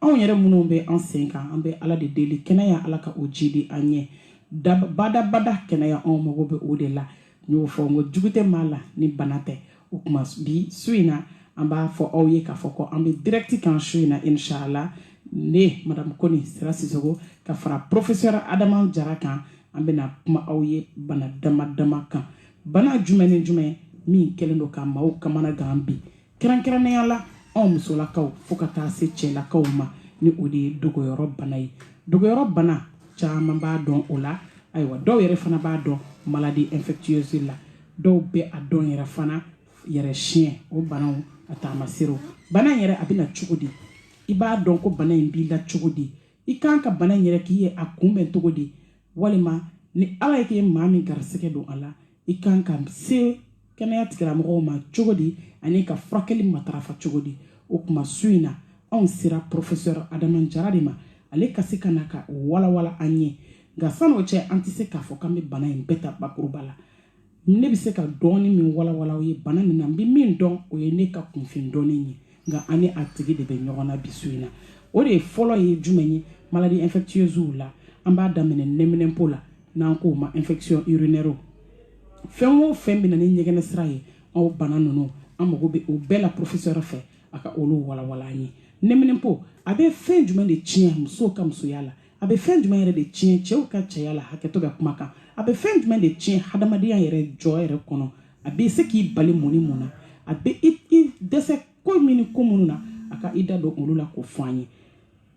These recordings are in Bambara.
anw yɛrɛ minnu bɛ an sen kan an bɛ ala de deli kɛnɛya ala ka o jidi an ye badabada kɛnɛya anw mago bɛ o de la n y'o fɔ n ko jugu tɛ maa la ni bana tɛ o kuma bi su in na an b'a fɔ aw ye k'a fɔ ko an bɛ dirɛkiti kan su in na inshala ne madamu kone sira sisoko ka fara porofesɛri adama jara kan an bɛna kuma aw ye bana dama dama kan bana jumɛn ni jumɛn min kɛlen don ka maaw kamana gan bi kɛrɛnkɛrɛnnenya la anw musolakaw fo ka taa se cɛlakaw ma ni o de ye dogoyɔrɔ bana ye dogoyɔrɔ bana caman b'a dɔn o la ayiwa dɔw yɛrɛ fana b'a dɔn maladie infectieuse la dɔw bɛ a dɔn yɛrɛ fana yɛrɛ tiɲɛ o banaw a taamaserew bana in yɛrɛ a bɛna cogo di i b'a dɔn ko bana in b'i la cogo di i kan ka bana in yɛrɛ k'i ye a kunbɛn cogo di walima ni ala y'a kɛ maa min garisɛgɛ don a la i kan ka se kɛnɛya tigilamɔgɔw ma cogo di ani ka furakɛli matarafa cogo di o kuma su in na anw sera professeur adama jara de ma ale ka se ka na k'a walawala an ye nka san'o cɛ an tɛ se k'a fɔ k'an bɛ bana in bɛɛ ta bakuruba la ne bɛ se ka dɔɔni min walawala aw ye bana nin na n bɛ min dɔn o ye ne ka kunfin dɔɔni ye nka an ni a tigi de bɛ ɲɔgɔn na bi su in na o de fɔlɔ ye jumɛn ye maladie infectieuse la an b'a daminɛ nɛminɛnpo la n'an k'o ma infection urinaire fɛn o fɛn bɛ na ni ɲɛgɛnɛ sira ye o bana ninnu an mago bɛ o bɛɛ la professeur fɛ a ka olu walawala an ye nɛminɛnpo a bɛ fɛn jumɛn de tiɲɛ musow ka musoya la a bɛ fɛn jumɛn yɛrɛ de tiɲɛ cɛw ka cɛya la hakɛto bɛ kuma kan a bɛ fɛn jumɛn de tiɲɛ hadamadenya yɛrɛ jɔyɔrɔ kɔnɔ a bɛ se k'i bali mun ni mun na a bɛ i dɛsɛ ko min ni ko minnu na a ka i da don olu la k'o fɔ an ye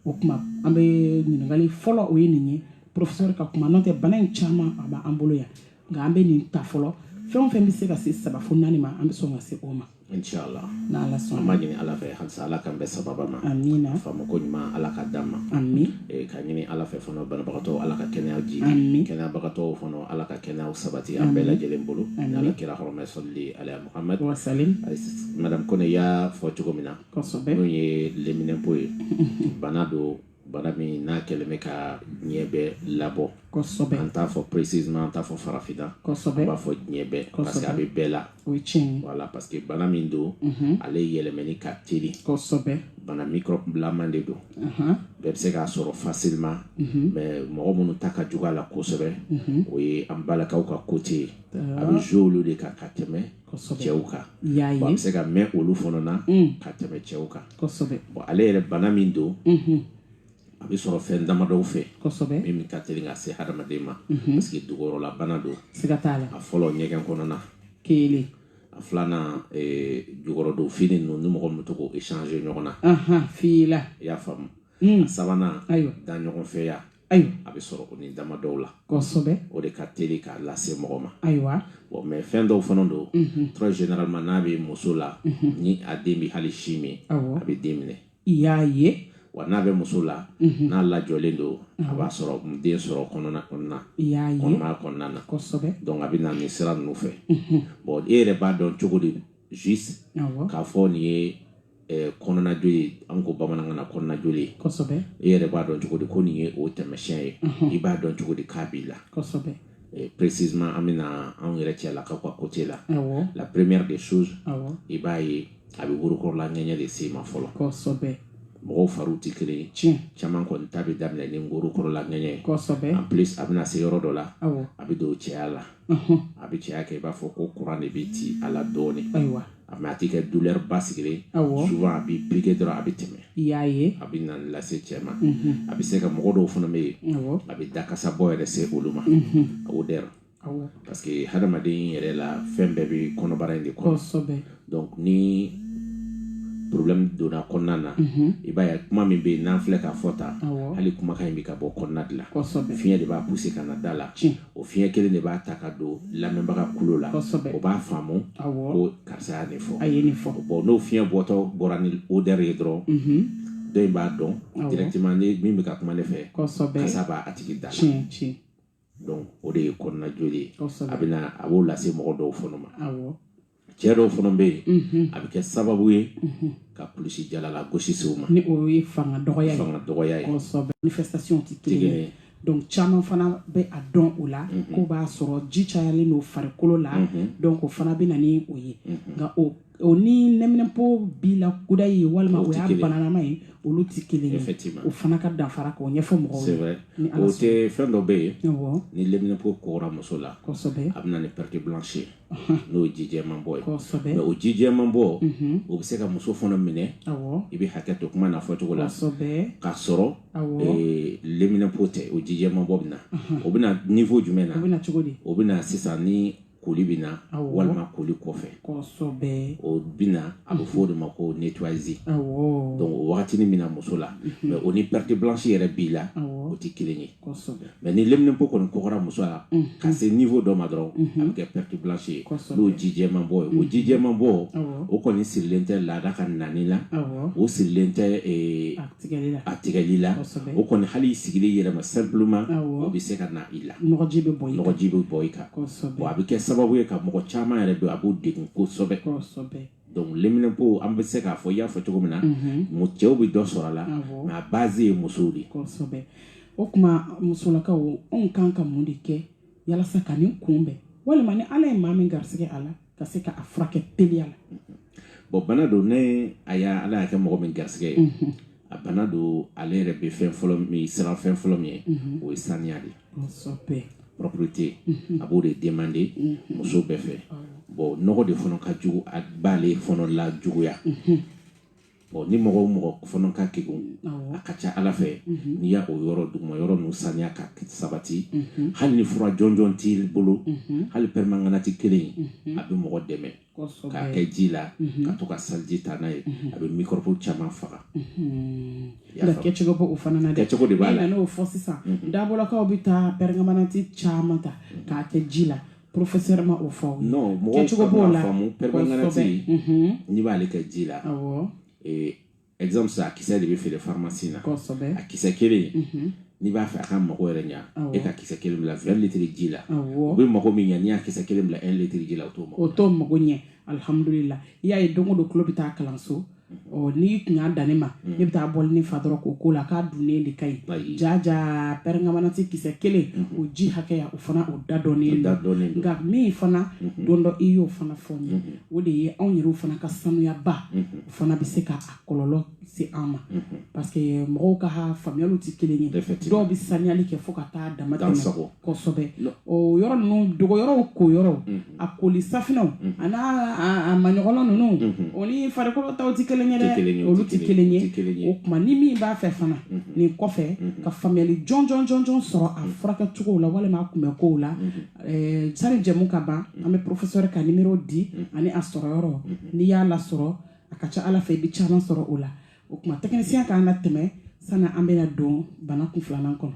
o kuma an bɛ ɲininkali fɔlɔ o ye nin ye porofesɛri ka kuma n'o tɛ bana in caman a b'an bolo yan nka an bɛ nin ta fɔlɔ fɛn o fɛn bɛ se ka se saba fo naani ma an bɛ sɔn ka se o ma inshallah n'ala sɔnna an b'a ɲini ala fɛ halisa ala k'an bɛɛ sababa ma amina faamako ɲuman ala k'a d'an ma amin eh, ka ɲini ala fɛ fana banabagatɔ ala ka kɛnɛya ji amin kɛnɛyabagatɔw fana ala ka kɛnɛya sabati an bɛɛ lajɛlen bolo ni ala kira hɔrɔma salli ala muhamad wasalim madame kone y'a fɔ cogo min na kosɛbɛ n'o ye leminɛpo ye bana don bana min n'a kɛlen bɛ ka diɲɛ bɛɛ labɔ kosɛbɛ an t'a fɔ précisément an t'a fɔ farafina kosɛbɛ an b'a fɔ diɲɛ bɛɛ parce que a bɛ bɛɛ la o ye tiɲɛ ye voilà parce que bana min don ale yɛlɛmɛni ka teli kosɛbɛ bana microbe laman de don bɛɛ bɛ se k'a sɔrɔ facilement mais mɔgɔ minnu ta ka jugu a la kosɛbɛ o ye an balakaw ka côté ye a bɛ jouer olu de kan ka tɛmɛ cɛw kan a bɛ se ka mɛn olu fana na mm. ka tɛmɛ cɛw kan bon ale yɛrɛ bana min don mm-hmm. a bɛ sɔrɔ fɛn damadɔw fɛ min ka teli ka se hadamaden ma mm-hmm. parce que dugukɔrɔla bana don a fɔlɔ ɲɛgɛn kɔnɔna kelen a filanan eh, jukɔrɔdon fini ninnu ni mɔgɔ min to k'o échanger ɲɔgɔn na fila i y'a faamu mm. a sabanan da ɲɔgɔn fɛ ya awɔ a bɛ sɔrɔ nin damadɔw la kosɛbɛ o de ka teli k'a lase mɔgɔ ma ayiwa bon mais fɛn dɔw fana don mhm. très généralement n'a bɛ muso la mhm. ni a den bɛ hali sin min a bɛ den minɛ i y'a ye wa n'a bɛ muso la mhm. n'a lajɔlen don a b'a sɔrɔ den sɔrɔ kɔnɔna kɔnɔna kɔnɔmaya kɔnɔna na donc a bɛ na nin sira ninnu fɛ bon e yɛrɛ b'a dɔn cogo di juste k'a fɔ nin ye kɔnɔna joli ye an ko bamanankan na kɔnɔna joli ye e yɛrɛ b'a dɔn cogo di ko nin ye o taamasiyɛn ye i b'a dɔn cogo di k'a b'i la précisément an bɛna anw yɛrɛ cɛ la ka ka côté la la première des choses i b'a ye a bɛ worokɔrɔla ŋɛɲɛ de se i ma fɔlɔ mɔgɔw fari tɛ kelen tiɲɛ caman kɔni ta bɛ daminɛ ni worokɔrɔla ŋɛɲɛ ye en plus a bɛna se yɔrɔ dɔ la a bɛ don cɛya la a bɛ cɛya kɛ i b'a fɔ ko kuran de bɛ ci a la dɔɔnin a mais a tɛ kɛ douleur basigilen awɔ souvent a bɛ piquer dɔrɔn a bɛ tɛmɛ i y'a ye a bɛ na lase cɛ ma a bɛ se ka mɔgɔ dɔw fana bɛ yen awɔ a bɛ dakasa bɔ yɛrɛ se olu ma a o dɛrɛ awɔ parce que hadamaden yɛrɛ la fɛn bɛɛ bɛ kɔnɔbara in de kɔnɔ kosɛbɛ donc ni problème donna kɔnɔna na i b'a ye kuma min bɛ yen n'an filɛ k'a fɔ tan Awɔ. hali kumakan in bɛ ka bɔ kɔnɔna de la kosɛbɛ fiɲɛ de b'a pousser ka na da la Tiɲɛ. o fiɲɛ kelen de b'a ta ka don lamɛnbaga kulo la o b'a faamu ko karisa ye nin fɔ a ye nin fɔ bon n'o fiɲɛ bɔtɔ bɔra ni odeur ye dɔrɔn mhm. dɔ in b'a dɔn directement nin min bɛ ka kuma ne fɛ kasa b'a tigi da la donc o de ye kɔnɔna joli ye a bɛna a b'o lase mɔgɔ dɔw fana ma cɛ dɔw fana bɛ yen a bɛ kɛ sababu ye ka kulusijala lagosi se u ma ni o ye fanga dɔgɔya ye fanga dɔgɔya ye kosɛbɛ manifestation tɛ kelen ye donc caman fana bɛ a dɔn o la k'o b'a sɔrɔ ji cayalen don farikolo la donc o fana bɛ na ni o ye nka o o ni leminɛpo b'i la kudayi walima o y'a bananama ye olu tɛ kelen ye o fana ka danfara k'o ɲɛfɔ mɔgɔw ye o tɛ fɛn dɔ bɛ yen ni leminɛpo kɔgɔra muso la kosɛbɛ a bɛ na ni perte blanche ye n'o ye jijɛman bɔ ye mais o jijɛman bɔ o bɛ se ka muso fana minɛ i bɛ hakɛ to kuma n'a fɔcogo la k'a sɔrɔ leminɛpo tɛ o jijɛman bɔ bɛ na o bɛ na niveau jumɛn na o bɛ na sisan ni koli bɛ na walima koli kɔfɛ o bɛ na a bɛ fɔ o de ma ko nettoyage donc o wagatini min na muso la mais o ni perte blanche yɛrɛ b'i la o tɛ kelen ye mais ni leminɛnpo kɔni kɔgɔra muso la ka se niveau dɔ ma dɔrɔn a bɛ kɛ perte blanche ye n'o jijɛman bɔ ye o jijɛman bɔ o kɔni sirilen tɛ laada ka nani la o sirilen tɛ a tigɛli la o kɔni hali i sigilen yɛrɛ ma simplement o bɛ se ka na i la nɔgɔji bɛ bɔ i kan bon a bɛ kɛ sababu ye ka mɔgɔ caman yɛrɛ don a b'o degun kosɛbɛ donc leminɛnpo an bɛ se k'a fɔ i y'a fɔ cogo min na mu cɛw bɛ dɔ sɔrɔ a la mais a base ye musow de ye o tuma musolakaw anw kan ka mun de kɛ yalasa ka nin kunbɛn walima ni ala ye maa min garisɛgɛ a la ka se k'a furakɛ teliya la bon bana don ni a y'a ala y'a kɛ mɔgɔ min garisɛgɛ ye a bana don ale yɛrɛ bɛ fɛn fɔlɔ min siran fɛn fɔlɔ min ye o ye saniya de ye propreté a b'o de demander muso bɛɛ fɛ bon nɔgɔ de fana ka jugu a b'ale fana lajuguya bon ni mɔgɔ o mɔgɔ fana ka kegun a ka ca ala fɛ n'i y'a o yɔrɔ duguma yɔrɔ ninnu saniya ka sabati hali ni fura jɔnjɔn t'i bolo hali pɛrɛmanganati kelen a bɛ mɔgɔ dɛmɛ k'a kɛ ji la mhm. ka to ka saliji ta n'a ye mhm. a bɛ mikɔrɔbu caman faga mhm. kɛcogo b'o fana na kɛcogo de b'a la n'o fɔ sisan dabolakaw bɛ taa pɛrɛmanganati caman ta k'a kɛ ji la professeur ma o fɔ non mɔgɔw kan k'a faamu pɛrɛmanganati n'i b'ale kɛ ji la awɔ exemple sa a kisɛ de bɛ feere pharmacie na a kisɛ kelen mhm. n'i b'a fɛ a ka mago yɛrɛ ɲa e ka kisɛ kelen bila 20 litre ji la o bɛ mago min ɲa n'i y'a kisɛ kelen bila 1 litre ji la o t'o mago o t'o mago ɲɛ alihamudulila i y'a ye don o don tulo bɛ taa kalanso ɔ n'i tun y'a dan ne ma mm. ne bɛ taa bɔli nin fa dɔrɔn k'o k'o la k'a dunnen de ka ɲi jaja pɛrɛmanganati kisɛ kelen mm-hmm. o ji hakɛya o fana o da dɔnnen don nka min fana mm-hmm. don dɔ i y'o fana fɔ n ye mm-hmm. o de ye anw yɛrɛw fana ka sanuyaba fana bɛ se ka a kɔlɔlɔ se an ma mhm. parce que mɔgɔw ka faamuyaliw tɛ kelen ye dɔw bɛ saniyali kɛ fo ka taa dama tɛmɛ kosɛbɛ o yɔrɔ ninnu dogoyɔrɔw koyɔrɔw mhm. a koli safinɛw mhm. a n'a a maɲɔgɔnlɔ ninnu o ni farikolo taw tɛ kelen ye dɛ olu tɛ kelen ye o tuma ni min b'a fɛ fana nin kɔfɛ ka faamuyali jɔnjɔn jɔnjɔn sɔrɔ a furakɛcogow la walima a kunbɛnkow la Eh, sani jɛmu ka ban an bɛ professeur ka nimero di ani a sɔrɔyɔrɔ n'i y'a lasɔrɔ a ka ca ala fɛ i bɛ caman sɔrɔ o la o tuma technicien k'an natɛmɛ sanni an bɛna don bana kun filanan kɔnɔ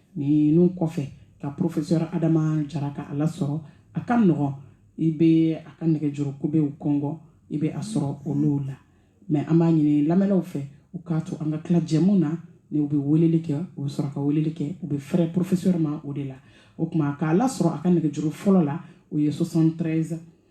ninnu kɔfɛ ka professeur adama jara ka a lasɔrɔ a ka nɔgɔn i bɛ a ka nɛgɛjuru kubew kɔngɔ i bɛ a sɔrɔ olu la mais an b'a ɲini lamɛnlaw fɛ u k'a to an ka tila jɛmu na ni u bɛ weleli kɛ u bɛ sɔrɔ ka weleli kɛ u bɛ fɛrɛ professeur ma o de la o tuma k'a lasɔrɔ a ka nɛgɛjuru fɔlɔ la o ye 73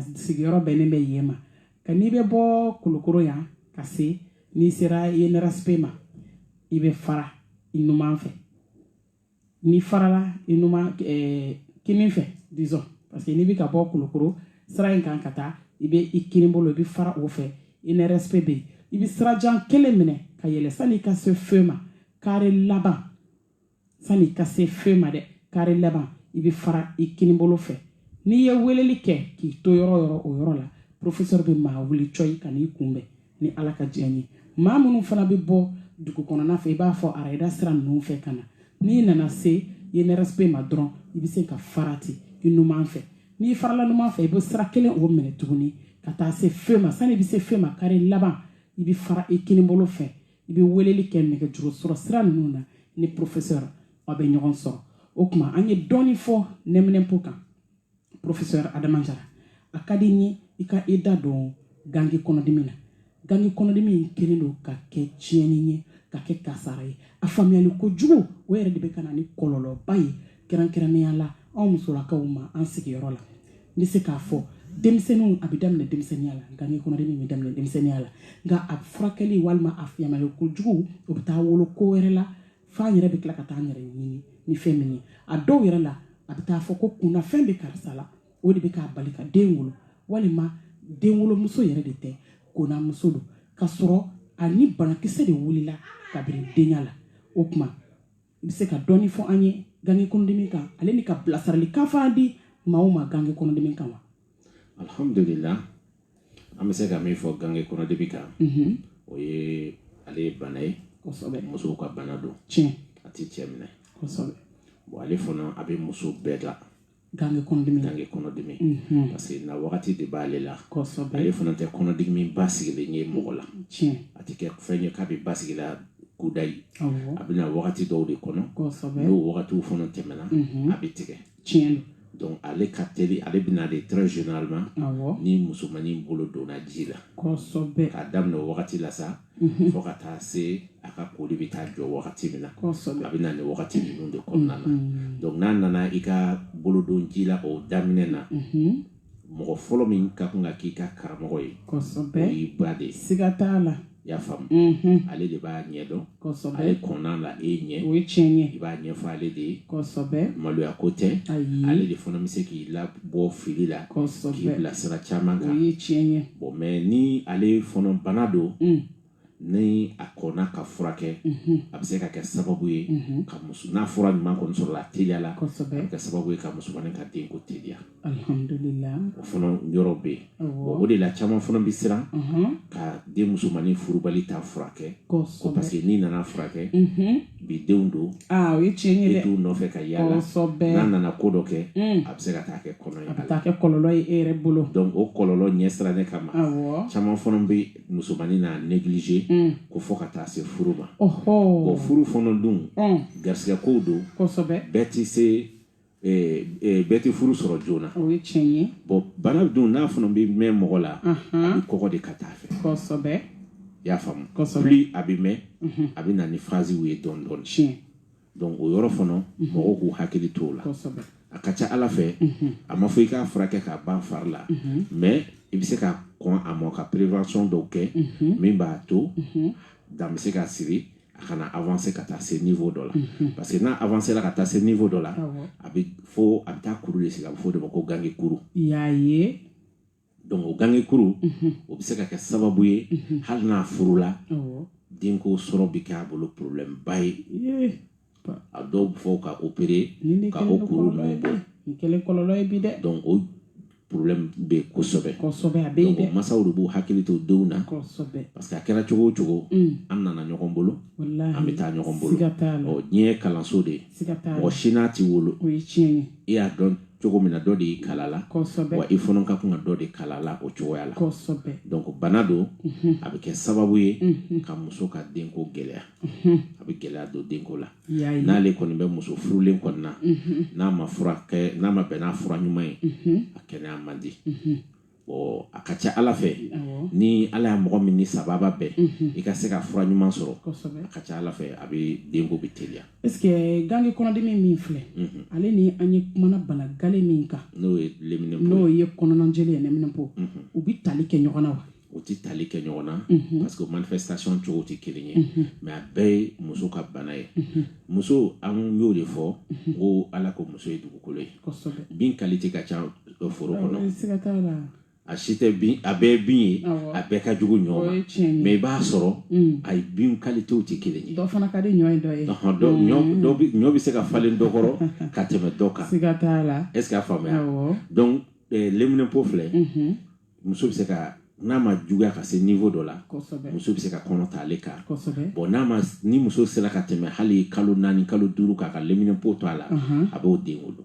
sigiyɔrɔ bɛnnen bɛ yen ma ka n'i bɛ bɔ kulukoro yan ka se n'i sera INRSP ma i bɛ fara i numan fɛ n'i farala i numan ɛɛ eh, kinin fɛ disons parce que n'i bɛ ka bɔ kulukoro sira in kan ka taa i bɛ i kinin bolo i bɛ fara o fɛ INRSP bɛ yen i bɛ sirajan kelen minɛ ka yɛlɛ sanni i ka se feu ma kare laban sani ka se feu ma dɛ kare laban i bɛ fara i kinibolo fɛ n'i ye weleli kɛ k'i to yɔrɔ yɔrɔ o yɔrɔ la professeur bɛ maa wuli cɔyi ka n'i kunbɛn ni ala ka diɲɛ ye maa minnu fana bɛ bɔ dugu kɔnɔna fɛ i b'a fɔ arayida sira ninnu fɛ ka na n'i nana se INRSP ma dɔrɔn i bɛ se ka fara ten i numan fɛ n'i farala numan fɛ i bɛ sira kelen o minɛ tuguni ka taa se feu ma sani i bɛ se feu ma kare laban i bɛ fara i kinibolo fɛ i bɛ weleli kɛ nɛgɛjuru sɔrɔ sira ninnu na ni professeur aw bɛ ɲɔgɔn sɔrɔ o tuma an ye dɔɔni fɔ nɛminɛnpo kan professeur adama jara a ka di n ye i ka i da don gangi kɔnɔdimi na gangi kɔnɔdimi in kɛlen don ka kɛ tiɲɛni ye ka kɛ kasara ye a faamuyali kojugu o yɛrɛ de bɛ ka na ni kɔlɔlɔba ye kɛrɛnkɛrɛnnenya la anw musolakaw ma an sigiyɔrɔ la n bɛ se k'a fɔ denmisɛnninw a bɛ daminɛ denmisɛnninya la gangi kɔnɔdimi bɛ daminɛ denmisɛnninya la nka a furakɛli walima a faamuyali kojugu o bɛ taa wolo ko wɛrɛ la f'an yɛrɛ bɛ tila ka taa an yɛrɛ ɲini ni fɛn min ye a dɔw yɛrɛ la a bɛ taa fɔ ko kunnafɛn bɛ karisa la o de bɛ k'a bali ka den wolo walima denwolomuso yɛrɛ de tɛ konamuso don k'a sɔrɔ a ni banakisɛ de wulila kabini denya la o tuma i bɛ se ka dɔɔni fɔ an ye gange kɔnɔdimi kan ale n'i ka bilasiralikan fana di maaw ma gange kɔnɔdimi kan wa alhamdulila an bɛ se ka min fɔ gange kɔnɔdimi kan mhm. o ye ale ye bana ye musow ka bana don a tɛ cɛ minɛ ale fana a bɛ muso bɛɛ la Gange kɔnɔdimi mhm. parce que na wagati de b'ale la kosɛbɛ ale fana tɛ kɔnɔdimi basigilen ye mɔgɔ la tiɲɛ a tɛ kɛ fɛn ye k'a bɛ basigi i la kudayi a bɛ na wagati dɔw de kɔnɔ kosɛbɛ n'o wagatiw fana tɛmɛna mhm. a bɛ tigɛ tiɲɛ donc ale ka teli ale bɛ na de très généralement ni musomanin bolo donna ji la kosɛbɛ k'a daminɛ o wagati la sa mhm. fo ka taa se a ka koli bɛ taa jɔ wagati min na a bɛ na nin wagati ninnu de kɔnɔna na mhm. donc n'a nana i ka bolodon ji la o daminɛ na mhm. mɔgɔ fɔlɔ min ka kan ka k'i ka karamɔgɔ ye o y'i ba de ye siga t'a la i y'a faamu mhm. ale de b'a ɲɛdɔn ale kɔnna a la e ɲɛ o ye tiɲɛ ye i b'a ɲɛfɔ ale de ye kosɛbɛ maloya ko tɛ ale de fana bɛ se k'i labɔ fili la k'i bilasira caman kan o ye tiɲɛ ye bon mais ni ale fɔnɔ bana don mm. ni a kɔnna ka furakɛ mhm. a bɛ se ka kɛ sababu ye mhm. ka muso n'a fura ɲuman kɔni sɔrɔla a teliya la a bɛ kɛ sababu ye ka musomanin ka denko teliya alhamdulillah o fana yɔrɔ bɛ yen o de la caman fana bɛ siran mhm. ka den musomanin furubali taa furakɛ ko parce que n'i nana furakɛ bi denw don ah, o ye tiɲɛ ye dɛ e t'u nɔfɛ ka yaala kosɛbɛ n'a nana ko dɔ kɛ mm. a bɛ se ka taa kɛ kɔnɔ ye a bɛ taa kɛ kɔlɔlɔ ye e yɛrɛ bolo donc o kɔlɔlɔ ɲɛsiranɲɛ kama awɔ caman fana bɛ musomanin n'a négliger mm. ko fɔ ka taa se furu ma ɔhɔ bon furu fana dun mm. garisigɛ kow don kosɛbɛ bɛɛ tɛ se bɛɛ tɛ furu sɔrɔ joona bon bana dun n'a fana bɛ mɛn mɔgɔ la a bɛ kɔgɔ de ka taa fɛ i y'a faamu plus a bɛ mɛn a bɛ na ni phasew ye dɔɔnin dɔɔnin donc o yɔrɔ fana mɔgɔw k'u hakili t o la a ka ca ala fɛ a ma fɔ i k'a furakɛ k'a ban fari la mais i bɛ se ka kɔn a ma ka prévention dɔw kɛ min b'a to dan bɛ se ka siri a kana avancer ka taa se niveau dɔ la mhm. parce que n'a avancer la ka taa se niveau dɔ la a bɛ fo a bɛ taa kuru de sigi a bɛ fɔ o de ma ko gange kuru y'a ye donc o gange kuru mhm. o bɛ se ka kɛ sababu ye mhm. hali n'a furula denko sɔrɔ bɛ kɛ a bolo problème ba ye a dɔw bɛ fo ka opérer ka o kuru ninnu bɔ nin kɛlen kɔlɔlɔ ye bi dɛ donc o problème bɛ kosɛbɛ kosɛbɛ a bɛ yen dɛ masaw de b'u hakili to denw na kosɛbɛ parce que a kɛra cogo o cogo mm. an nana ɲɔgɔn bolo an bɛ taa ɲɔgɔn bolo siga t'a la ɔ diɲɛ ye kalanso de ye siga t'a la mɔgɔ si n'a tɛ wolo o ye tiɲɛ ye i y'a dɔn cogo min na dɔ de y'i kalan a la kosɛbɛ wa i fana ka kan ka dɔ de kalan a la o cogoya la kosɛbɛ donc bana don mm-hmm. a bɛ kɛ sababu ye mm-hmm. ka muso ka denko gɛlɛya a bɛ gɛlɛya don denko la n'ale kɔni bɛ muso furulen kɔni na n'a ma furakɛ n'a ma bɛn n'a fura ɲuman ye a kɛnɛya man di bon a ka ca ala fɛ ni ala y'a mɔgɔ min ni sababa bɛn i ka se ka fura ɲuman sɔrɔ a ka ca ala fɛ a bɛ denko bɛ teliya est ce que gange kɔnɔdimi min filɛ ale ni an ye kumana bana galen min kan n'o ye n'o ye kɔnɔnajoli ye leminɛnpo u bɛ tali kɛ ɲɔgɔn na wa u tɛ tali kɛ ɲɔgɔn na parce que manifestation cogo tɛ kelen ye mais a bɛɛ ye muso ka bana ye muso an y'o de fɔ ko ala ko muso ye dugukolo ye bin qualité ka ca foro kɔnɔ a si tɛ bin a bɛɛ bin ye a bɛɛ ka jugu ɲɔ ma mais i b'a sɔrɔ a ye bin qualitéw tɛ kelen ye dɔ fana ka di ɲɔ ye dɔ ye ɲɔ bɛ se ka falen dɔ kɔrɔ ka tɛmɛ dɔ kan siga t'a la est ce que a faamuya donc leminɛnpo filɛ muso bɛ se ka n'a ma juguya ka se niveau dɔ la muso bɛ se ka kɔnɔ ta ale kan bon n'a ma ni muso sera ka tɛmɛ hali kalo naani kalo duuru k'a ka leminɛpo to a la a b'o den wolo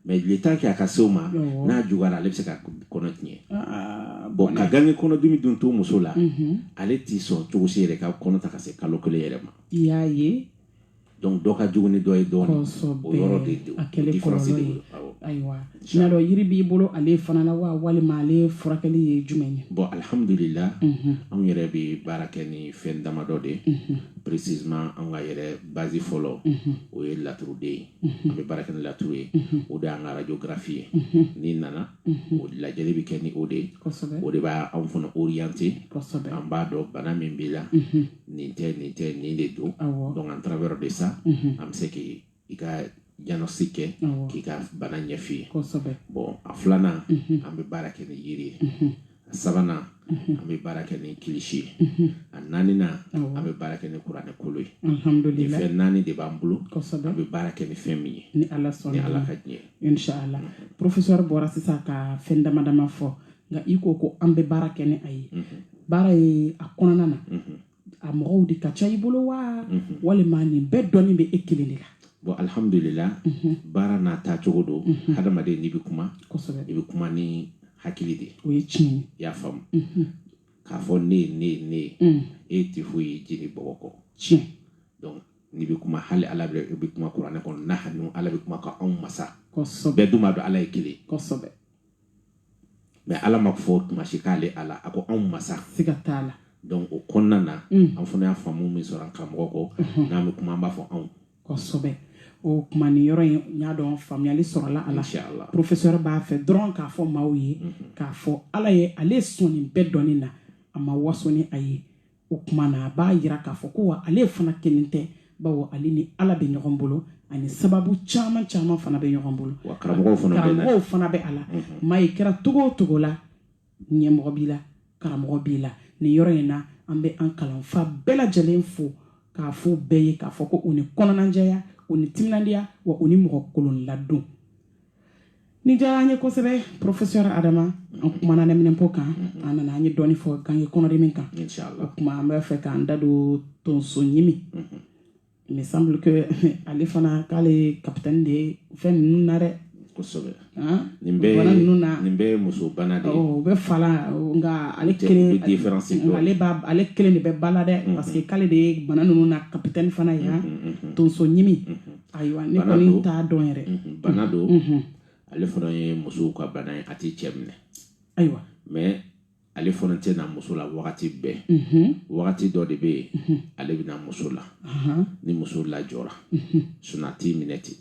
mais le temps que a ka se o ma n'a juguyara ale bɛ se ka kɔnɔ tiɲɛ bon ka gange kɔnɔdimi dun to muso la ale tɛ sɔn cogo si yɛrɛ ka kɔnɔ ta ka se kalo kelen yɛrɛ ma i y'a ye donc dɔ ka jugu ni dɔ ye dɔɔnin o yɔrɔ de a kɛlen kɔlɔlɔ ye ayiwa n'a dɔn yiri b'i bolo ale fana la wa walima ale furakɛli ye jumɛn ye bon alhamdulila mhm. anw yɛrɛ bɛ baara kɛ ni fɛn damadɔ de ye mhm. précisément anw ka yɛrɛ base fɔlɔ mhm. o ye laturu de ye an bɛ baara kɛ ni laturu ye o de y'an ka radiographie ye n'i nana o lajɛli bɛ kɛ ni o de ye o de b'anw fana orienter an b'a dɔn bana min b'i la nin tɛ nin tɛ nin de don donc en travers de ça mhm. an bɛ se k'i ka diagnostic kɛ k'i ka bana ɲɛf'i ye bon a filanan mhm. an bɛ baara kɛ ni yiri ye mhm. a sabanan an bɛ baara kɛ ni kilisi ye a naaninan an bɛ baara kɛ ni kuranɛ kolo ye nin fɛn naani de b'an bolo an bɛ baara kɛ ni fɛn min ye ni ala ka diɲɛ inshallah professeur bɔra sisan ka fɛn dama dama fɔ nka i ko ko an bɛ baara kɛ ni a ye mhm. baara ye a kɔnɔna na mhm. a mɔgɔw de ka ca i bolo wa mhm. walima nin bɛɛ dɔnni bɛ e kelen de la bon alhamdulila baara n'a taa cogo don hadamaden n'i bɛ kuma i bɛ kuma ni hakili de o ye tiɲɛ ye i y'a faamu k'a fɔ ne ye ne ye ne ye mm. e tɛ foyi ye jeli bɔgɔ kɔ tiɲɛ donc n'i bɛ kuma hali ala bɛ i bɛ kuma kuranɛ kɔnɔ nahnu ala bɛ kuma k'anw masa bɛɛ dun b'a dɔn ala ye kelen kosɛbɛ mais ala m'a fɔ tuma si k'ale ala a ko anw masa siga t'a la donc o kɔnɔna na mm. an fana ye faamu min sɔrɔ an karamɔgɔ kɔ mm-hmm. n'an bɛ kuma an b'a fɔ anw kosɛbɛ o kuma nin yɔrɔ in n y'a dɔn faamuyali sɔrɔla a la professeur b'a fɛ dɔrɔn k'a fɔ maaw ye mm-hmm. k'a fɔ ala ye ale sɔn nin bɛɛ dɔnni na a ma waso ni a ye o kuma na a b'a yira k'a fɔ ko wa ale fana kelen tɛ bawo ale ni ala bɛ ɲɔgɔn bolo ani sababu caman caman fana bɛ ɲɔgɔn bolo karamɔgɔw fana bɛ a la mhm. maa i kɛra cogo o cogo la ɲɛmɔgɔ b'i la karamɔgɔ b'i la nin yɔrɔ in na an bɛ an kalanfa bɛɛ lajɛlen fo k'a fɔ bɛɛ ye k'a fɔ ko u ni kɔnɔnajɛya u ni timinandiya wa u ni mɔgɔ kolon ladon nin diyara an ye kosɛbɛ professeur adama an kumana nɛminɛpo kan an nana an ye dɔɔni fɔ gange kɔnɔdimi kan o kuma an b'a fɛ k'an da don tonso ɲimi me semble que ale fana k'ale capitaine de ye fɛn ninnu na dɛ kosɛbɛ nin bɛɛ bana ninnu na nin bɛɛ ye muso bana de ye u bɛ fa la nka ale kelen ale b'a ale kelen de bɛ ba la dɛ parce que k'ale de ye bana ninnu na capitaine fana ye tonso ɲimi ayiwa ne kɔni t'a dɔn yɛrɛ bana don ale fana ye musow ka bana ye a tɛ cɛ minɛ ayiwa mais ale fana tɛ na muso la wagati bɛɛ wagati dɔ de bɛ yen ale bɛ na muso la ni muso lajɔra sinon a t'i minɛ ten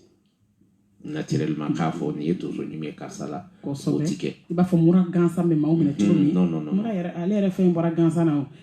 naturellement k'a fɔ nin ye tonso ɲimi ye karisa la o ti kɛ i b'a fɔ mura gansan bɛ maaw minɛ cogo min non non non mura yɛrɛ ale yɛrɛ fɛn bɔra gansan na o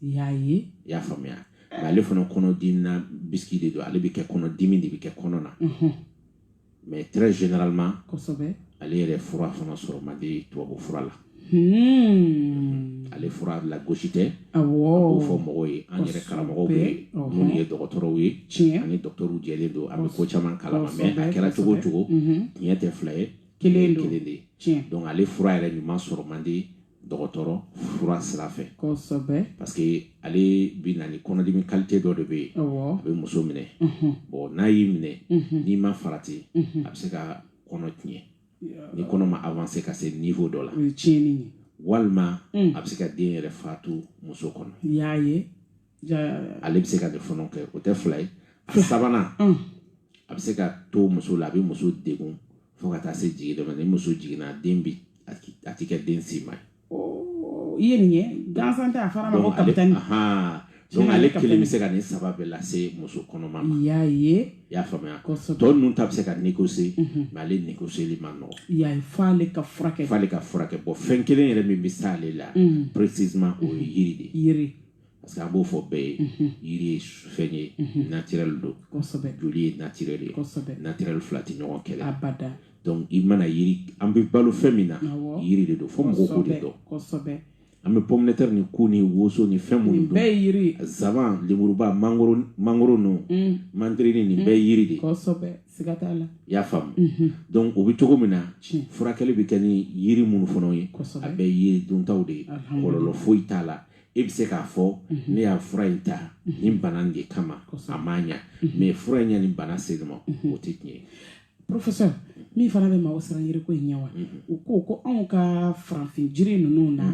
i y'a ye i y'a faamuya nka ale fana kɔnɔdimi na bisiki de don ale bɛ kɛ kɔnɔdimi de bɛ kɛ kɔnɔ na mais très généralement kosɛbɛ ale yɛrɛ fura fana sɔrɔ man di tubabu fura la Hmm. ale fura lagosi tɛ an b'o fɔ mɔgɔw ye an yɛrɛ karamɔgɔw bɛ minnu ye dɔgɔtɔrɔw ye tiɲɛ an ni dɔgɔtɔrɔw jɛlen don an bɛ ko caman kalama mais a kɛra cogo o cogo tiɲɛ tɛ fila ye kelen kelen de ye donc ale fura yɛrɛ ɲuman sɔrɔ man di dɔgɔtɔrɔ fura sira fɛ parce que ale bɛ na ni kɔnɔdimi qualité dɔ de bɛ yen a bɛ muso minɛ bon n'a y'i minɛ n'i ma farati a bɛ se ka kɔnɔ tiɲɛ ni kɔnɔ ma avancer ka se niveau dɔ la walima a bɛ se ka den yɛrɛ faatu muso kɔnɔ ale bɛ se ka nin fana kɛ o tɛ fila ye a sabanan mm. a bɛ se ka to muso la a bɛ muso degun fo ka taa se jigin don ma ni muso jiginna den bi a tɛ kɛ den si ma ye. Oh, i ye nin ye gansan tɛ a fɔr'a ma ko kapitani. donc ale kelen bɛ se ka nin saba bɛɛ lase muso kɔnɔma ma. i y'a ye. i y'a faamuya kosɛbɛ tɔ ninnu ta bɛ se ka négocier mhm. mais ale négocier man nɔgɔn. i y'a ye f'ale ka furakɛ. f'ale ka furakɛ bon fɛn kelen yɛrɛ min bɛ s'ale la. Mhm. précisément o ye yiri de ye. yiri. parce que an b'o fɔ bɛɛ ye mhm. yiri ye fɛn ye mhm. naturel don joli ye naturel ye naturel fila tɛ ɲɔgɔn kɛlɛ donc i mana yiri an bɛ balo fɛn min na yiri de don fo mɔgɔw k'o de dɔn an bɛ pomme de terre ni ku ni woso ni fɛn minnu dun bɛɛ yiri zaban lemuruba mangoro mangoro ninnu mm. mandarini nin bɛɛ yiri de kosɛbɛ siga t'a la i y'a faamu mhm. donc o bɛ cogo min na furakɛli bɛ kɛ ni yiri minnu fana ye a bɛɛ yiri duntaw de ye kɔlɔlɔ foyi t'a la e bɛ se k'a fɔ mhm. ne y'a fura in ta mhm. nin bana de kama a ma ɲa mhm. mais fura in ye nin bana se n ma o tɛ tiɲɛ ye professeur min fana bɛ maaw siran yiriko in ɲɛ wa u ko ko anw ka farafin jiri ninnu na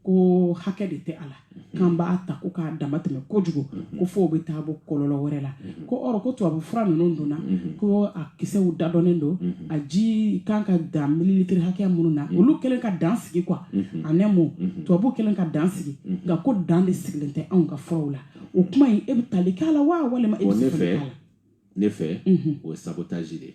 ko hakɛ de tɛ a la k'an b'a ta ko k'a dama tɛmɛ kojugu ko f'o bɛ taa bɔ kɔlɔlɔ wɛrɛ la ko ɔrɔ ko tubabu fura ninnu donna mhm. ko a kisɛw dadɔnnen don mhm. a ji kan ka dan mililitiri hakɛya minnu na mhm. olu kɛlen ka dan sigi quoi en un mot tubabu kɛlen ka dan sigi nka ko dan de sigilen tɛ anw ka furaw la o kuma in e bɛ tali k'a la wa walima e bɛ siga k'a la ne fɛ o ye sabotage de ye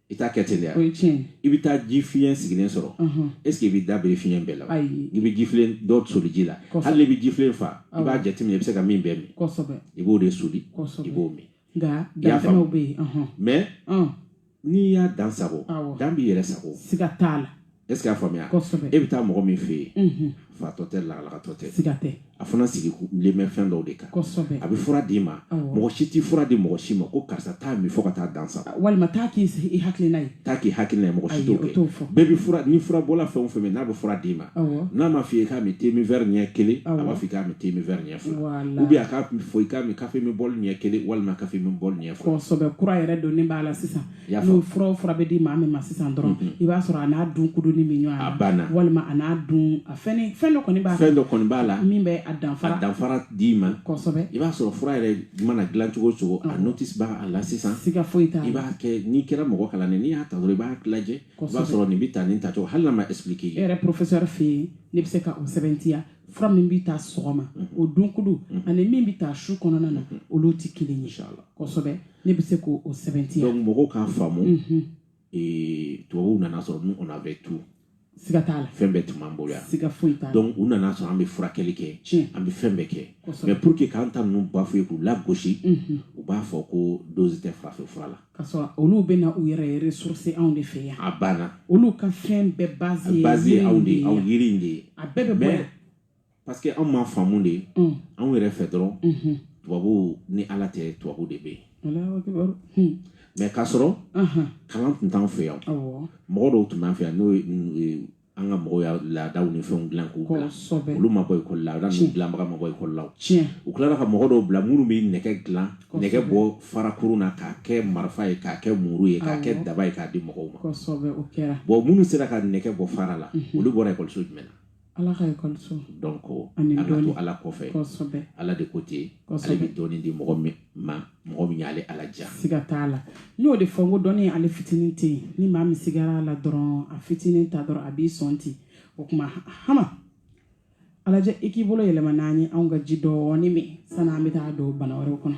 i t'a kɛ ten dɛ o ye tiɲɛ i bɛ taa ji fiɲɛ sigilen sɔrɔ est ce que i bɛ da biri fiɲɛ bɛɛ la ayi i bɛ ji filen dɔ soli ji la hali n'i bɛ ji filen fa i b'a jateminɛ i bɛ se ka min bɛɛ min kosɛbɛ i b'o de soli i b'o min nka dantɛmɛw bɛ yen mais n'i y'a dan sagon dan b'i yɛrɛ sagon siga t'a la e y'a faamuya e bɛ taa mɔgɔ min fɛ yen fatɔ tɛ lagalagatɔ tɛ a fana sigilen bɛ fɛn dɔw de kan a bɛ fura d'i ma mɔgɔ si tɛ fura di mɔgɔ si ma ko karisa t'a min fo ka taa dan sa walima taa k'i sigi hakilina ye taa k'i hakilina mɔgɔ si t'o kɛ bɛɛ ni fura bɔla fɛn o fɛn min n'a bɛ fura d'i ma n'a ma fɔ i k'a min te min verre ɲɛ kelen a b'a fɔ i k'a min te min verre ɲɛ fila ou bien a k'a fɔ i k'a min kafe min bɔli ɲɛ kelen walima kafe min bɔli ɲɛ fila kura yɛrɛ donnen b'a la sisan n'o fura o fura bɛ di maa min ma sisan dɔrɔn i b'a sɔrɔ a n'a dun kuduni min ɲɔgɔn a banna walima a n'a dun fɛn fɛn dɔ kɔni b'a fɛn dɔ kɔni b'a la min bɛ a danfara a danfara d'i ma kosɛbɛ i b'a sɔrɔ fura yɛrɛ mana dilan cogo o cogo a notice b'a la sisan siga foyi t'a la i b'a kɛ n'i kɛra mɔgɔ kalannen n'i y'a ta dɔrɔn i b'a lajɛ i b'a sɔrɔ nin bɛ ta nin tacogo hali n'a ma expliqué e yɛrɛ professeur fɛ yen ne bɛ se ka o sɛbɛntiya fura min bɛ ta sɔgɔma o dunkudu ani min bɛ ta su kɔnɔna na olu tɛ kelen ye kosɛbɛ ne bɛ se k'o sɛbɛntiya donc mɔgɔw k'a faamu tubabuw nana sɔrɔ nous on avait tout siga t'a la fɛn bɛɛ tun b'an bolo yan siga foyi t'a la donc u nana sɔrɔ an bɛ furakɛli kɛ tiɲɛ an bɛ fɛn bɛɛ kɛ mais pour que k'an ta ninnu bafouer k'u lagosi u b'a fɔ ko dose tɛ farafin fura la ka sɔrɔ olu bɛ na u yɛrɛ ressource anw de fɛ yan a banna olu ka fɛn bɛɛ base ye base ye anw de ye anw yiri in de ye a bɛɛ bɛ bɔ yan parce que anw ma faamu de mm. anw yɛrɛ fɛ dɔrɔn mm-hmm. tubabuw ni ala tɛ tubabu de bɛ yen hmm. mais k'a sɔrɔ uh-huh. kalan tun t'an fɛ yan mɔgɔ dɔw tun b'an fɛ yan n'o ye an ka mɔgɔw y'a laadaw ni fɛnw dilan k'u bila olu ma bɔ ekɔli la laada ninnu dilanbaga ma bɔ ekɔli la u tilara ka mɔgɔ dɔw bila minnu bɛ nɛgɛ dilan nɛgɛ bɔ farakurun na k'a kɛ marifa ye k'a kɛ muru ye k'a kɛ daba ye k'a di mɔgɔw ma bon minnu sera ka nɛgɛ bɔ fara la mhm. olu bɔra ekɔliso jumɛn na ala ka ekɔliso donc ani an ka to ala kɔfɛ kosɛbɛ ala de ko ten ale bɛ dɔnni di mɔgɔ min ma mɔgɔ min y'ale ala diya siga t'a la n y'o de fɔ n ko dɔnni ale fitinin tɛ yen ni maa min sigara a la dɔrɔn a fitinin ta dɔrɔn a b'i sɔn ten o tuma hama a lajɛ i k'i bolo yɛlɛma n'an ye anw ka ji dɔɔni min san'an bɛ taa don bana wɛrɛw kɔnɔ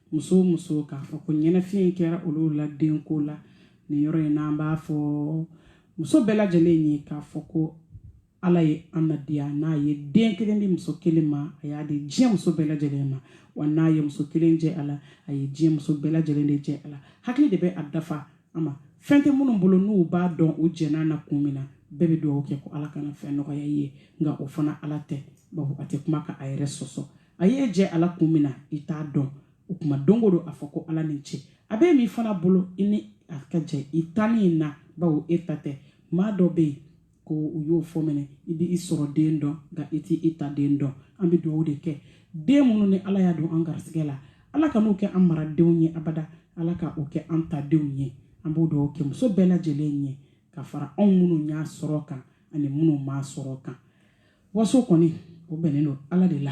muso o muso k'a fɔ ko ɲɛnafin kɛra olu la denko la nin yɔrɔ in na an b'a fɔ muso bɛɛ lajɛlen ye k'a fɔ ko ala ye an nadiya n'a ye den kelen di muso kelen ma a y'a di diɲɛ muso bɛɛ lajɛlen ma wa n'a ye muso kelen jɛ a la a ye diɲɛ muso bɛɛ lajɛlen de jɛ a la hakili de bɛ a dafa ama fɛn tɛ minnu bolo n'u b'a dɔn u jɛn'a na kun min na bɛɛ bɛ dugawu kɛ ko ala kana fɛn nɔgɔya i ye nka o fana ala tɛ bawo a tɛ kuma ka a yɛrɛ sɔsɔ a y'e jɛ ala kun min na i t'a dɔn o kuma don o don a fɔ ko ala ni ce a bɛ min fana bolo i ni a ka jɛ i tali in na bawo e ta tɛ maa dɔ bɛ yen ko u y'o fɔ minɛ i bɛ i sɔrɔden dɔn nka i tɛ i taden dɔn an bɛ dugawu de kɛ den minnu ni ala y'a don an garisigɛ la ala ka n'u kɛ an maradenw ye abada ala ka o kɛ an tadenw ye an b'o dugawu kɛ muso bɛɛ lajɛlen ye ka fara anw minnu y'a sɔrɔ kan ani minnu m'a sɔrɔ kan waso kɔni o bɛnnen don ala de la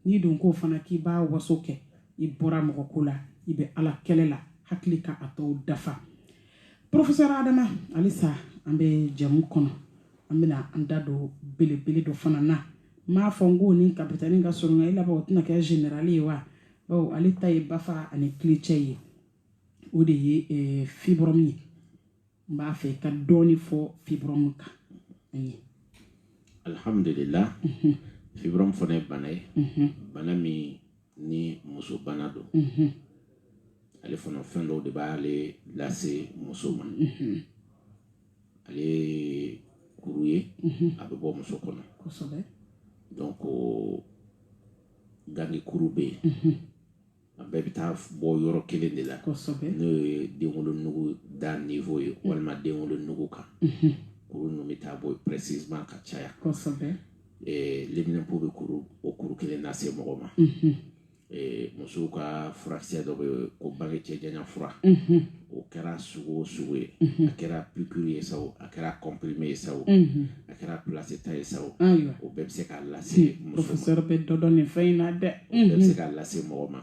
n'i don ko fana k'i b'a waso kɛ i bɔra mɔgɔ ko la i bɛ ala kɛlɛ la hakili ka a tɔw dafa porofesɛr adama halisa an bɛ jɛmu kɔnɔ an bɛna an da don belebele dɔ fana na n m'a fɔ n ko ni kapitani ka sɔrɔ i laban o tɛna kɛ generali ye wa bawo ale ta ye bafa ani kilicɛ ye o de ye eh, fibrɔmu ye n b'a fɛ ka dɔɔni fɔ fibrɔmu kan an ye alhamdulila mhm. fibrɔmu fana ye bana ye mhm. bana min ni muso bana don mhm. ale fana fɛn dɔw de b'ale lase muso ma ale ye kuru ye a bɛ bɔ muso kɔnɔ donc gange kuru bɛ yen a bɛɛ bɛ taa bɔ yɔrɔ kelen de la n'o ye denwolonugu da niveau ye mm. walima denwolonugu kan mm-hmm. kuru ninnu bɛ taa bɔ précisément ka caya eh, leminanpo bɛ kuru o kuru kelen lase mɔgɔ ma mm-hmm. eh, musow ka furakisɛ dɔ bɛ ko bange cɛ janya fura mm-hmm. o kɛra sugu o sugu ye a kɛra pikiri ye sa a kɛra kɔnprime ye sa a kɛra plasita ye sa o bɛɛ bɛ se k'a lase muso ma porofesɛr bɛ dɔ dɔn nin fɛn in na dɛ o bɛɛ bɛ se k'a lase mɔgɔ ma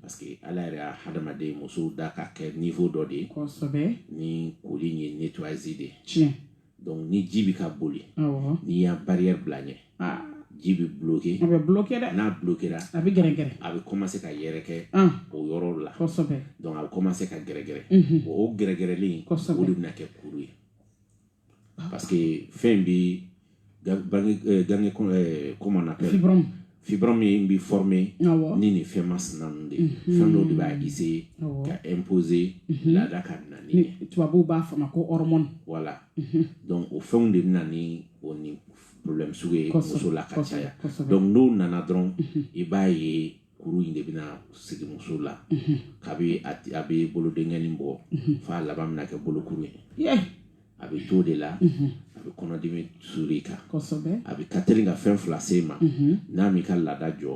parce que ala yɛrɛ y'a hadamaden muso da ka kɛ niveau dɔ de ye ni koli ye nettoyage de ye tiɲɛ dɔnku ni ji bɛ ka boli n'i y'a barika bila ɲɛ ji bɛ bulonloki a bɛ bulonlokɛ dɛ n'a bulonlokira a bɛ gɛrɛɛrɛ a bɛ kɔma se ka yɛrɛ kɛ o yɔrɔ la dɔnku a bɛ kɔma se ka gɛrɛɛrɛ o o gɛrɛɛrɛlen in o de bɛna kɛ kuru ye parce que fɛn bɛ bange kɔma na kɛ fibrɔmu in bɛ former ni nin fɛn masina ninnu de ye mhm. fɛn dɔw de b'a essayer ka imposer mhm. laada ka na ni ye tubabuw b'a fɔ ma ko hormone voilà mhm. donc o fɛnw de bɛna ni o ni problème sugu ye muso la ka caya donc n'o nana dɔrɔn i b'a ye kuru in de bɛna sigi muso la kabi a bɛ bolodenkɛnin bɔ f'a laban bɛna kɛ bolokuru ye a bɛ t'o de la a bɛ kɔnɔdimi suuru i kan a bɛ ka teli ka fɛn fila se ma n'a m'i ka laada jɔ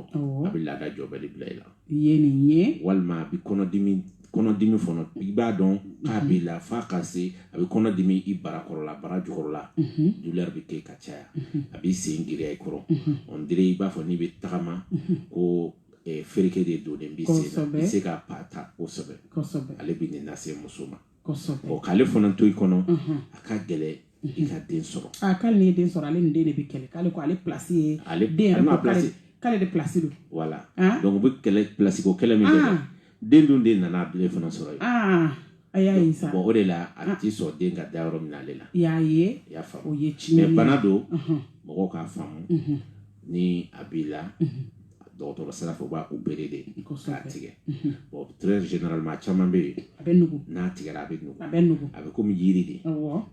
a bɛ laada jɔbali bila i la ye nin ye walima a bɛ kɔnɔdimi kɔnɔdimi fana i b'a dɔn k'a b'i la f'a ka se a bɛ kɔnɔdimi i barakɔrɔla bara jukɔrɔla douleur bɛ kɛ ka caya a b'i sen giriya i kɔrɔ on dirait i b'a fɔ n'i bɛ tagama ko fereke de donnen b'i sen na i tɛ se ka pas ta kosɛbɛ ale bɛ nin lase muso ma kosɛbɛ k'ale fana to i kɔnɔ a ka gɛlɛn i ka den sɔrɔ a k'ale ye den sɔrɔ ale ni den de bɛ kɛlɛ k'ale ko ale pilasi ye ale den yɛrɛ ko k'ale k'ale de pilasi don voilà donc u bɛ kɛlɛ pilasi ko kɛlɛ min kɛ den dun de nana ale fana sɔrɔ yen a y'a ye sa o de la a ti sɔn den ka da yɔrɔ min na ale la i y'a ye i y'a faamu o ye tiɲɛ ye mais bana don mɔgɔw k'a faamu ni a b'i la dɔgɔtɔrɔ sira fɛ u b'a opéré de k'a tigɛ bon très généralement caman bɛ yen a bɛ nugu n'a tigɛra a bɛ nugu a bɛ nugu a bɛ komi yiri de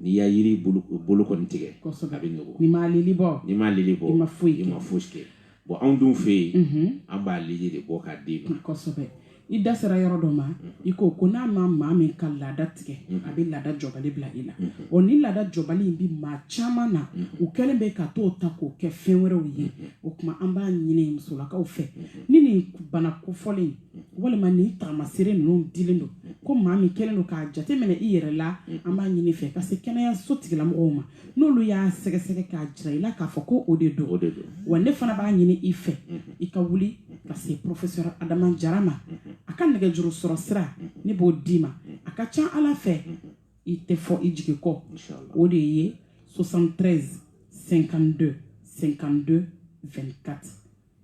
n'i ye yiri bolo kɔni tigɛ a bɛ nugu n'i m'a lili bɔ n'i m'a lili bɔ i ma foyi i ma foyi kɛ bon anw dun fɛ yen an b'a lili de bɔ k'a d'i ma kosɛbɛ i da sera yɔrɔ dɔ ma i ko ko n'a ma maa min ka laada tigɛ a bɛ laada jɔbali bila i la o ni laada jɔbali in bɛ maa caman na u kɛlen bɛ ka t'o ta k'o kɛ fɛn wɛrɛw ye o tuma an b'a ɲini musolakaw fɛ ni nin bana kofɔlen walima nin tagamasere ninnu dilen don ko maa min kɛlen don k'a jateminɛ i yɛrɛ la an b'a ɲini i fɛ ka se kɛnɛyaso tigilamɔgɔw ma n'olu y'a sɛgɛsɛgɛ k'a jira i la k'a fɔ ko o de don wa ne fana b'a ɲini i fɛ i ka wuli ka se professeur adama jara ma a ka nɛgɛjuru sɔrɔ sira ne b'o d'i ma a ka ca ala fɛ i tɛ fɔ i jigi kɔ o de ye 73 52 52 24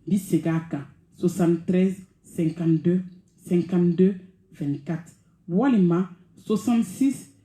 bi segin a kan 73 52 52 24 walima 66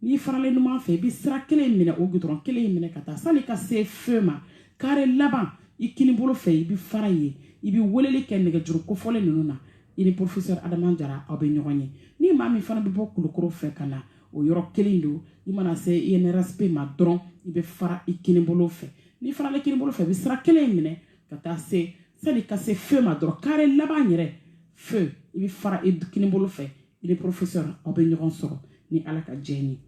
n'i faralen numan fɛ i bɛ sira kelen in minɛ o gudɔrɔn kelen in minɛ ka taa sani ka se feu ma kare laban i kini bolo fɛ i bɛ fara yen i bɛ weleli kɛ nɛgɛjuru kofɔlen ninnu na i ni professeur adama jara aw bɛ ɲɔgɔn ye ni maa min fana bɛ bɔ kulukoro fɛ ka na o yɔrɔ kelen don i mana se inrsp ma dɔrɔn i bɛ fara i kini bolo fɛ n'i faralen kini bolo fɛ i bɛ sira kelen in minɛ ka taa se sani ka se feu ma dɔrɔn kare laban yɛrɛ fɛ i bɛ fara i kini bolo fɛ i ni professeur aw bɛ ɲɔgɔn sɔrɔ ni ala ka jɛn ye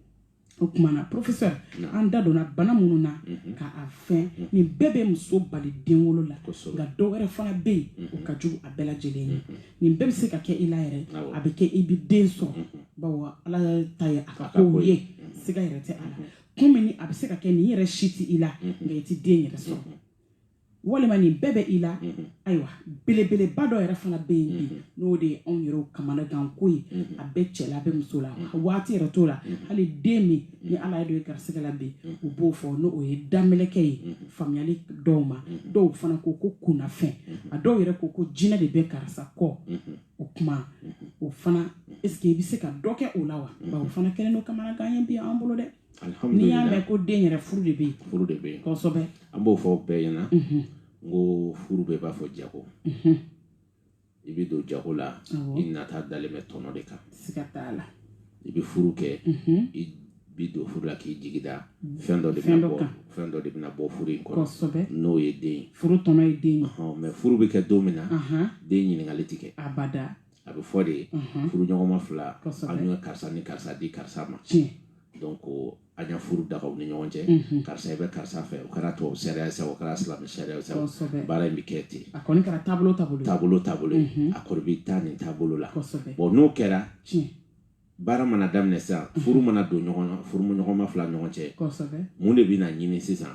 o tuma na professeur an da donna bana minnu na mhm. ka a fɛn mhm. nin bɛɛ bɛ muso bali den wolo la nka dɔ wɛrɛ fana bɛ yen o mhm. ka jugu a bɛɛ lajɛlen ye nin bɛɛ bɛ se ka kɛ i la yɛrɛ a bɛ kɛ i bɛ den sɔrɔ bawo ala ta ye a ka kow ye siga yɛrɛ tɛ a la komi ni a bɛ se ka kɛ nin yɛrɛ si tɛ i la nka i tɛ den yɛrɛ sɔrɔ walima nin bɛɛ bɛ i la mm-hmm. ayiwa belebeleba dɔ yɛrɛ fana bɛ yen bi mm-hmm. n'o de ye anw yɛrɛw kamanaganko ye mm-hmm. a bɛ cɛ la a bɛ muso la a waati yɛrɛ t'o la hali den min ni ala ye dɔ ye garisigɛ la bi u b'o fɔ n'o o ye damelɛkɛ ye faamuyali dɔw ma dɔw fana ko ko kunnafɛn a dɔw yɛrɛ ko ko jinɛ de bɛ karisa kɔ o kuma o fana est-ce que i bɛ se ka dɔ kɛ o la wa o fana kɛlen don kamanagan ye bi an bolo dɛ n'i y'a mɛn ko den yɛrɛ furu de bɛ yen furu de bɛ yen kosɛbɛ an b'o fɔ bɛɛ ɲɛna n ko furu bɛɛ b'a fɔ jago i bɛ don jago la i nata dalen bɛ tɔnɔ de kan siga t'a la i bɛ furu kɛ i bi don furu la k'i jigi da mm. fɛn dɔ de bɛna bɔ fɛn dɔ de bɛna bɔ furu in kɔnɔ n'o ye den ye furu tɔnɔ ye den ye mais furu bɛ kɛ don min na den ɲininkali tɛ kɛ abada a bɛ fɔ de furuɲɔgɔnma fila an ye karisa ni karisa di karisa ma donc an ye furu daga u ni ɲɔgɔn cɛ karisa i bɛ karisa fɛ o kɛra tubabu sariya sa o kɛra silamɛ sariya sa baara in bɛ kɛ ten a kɔni kɛra taabolo taabolo taabolo a kɔrɔ bɛ taa nin taabolo la bon n'o kɛra baara mana daminɛ sisan furu mana don ɲɔgɔn na furuɲɔgɔnma fila ɲɔgɔn cɛ mun de bɛna ɲini sisan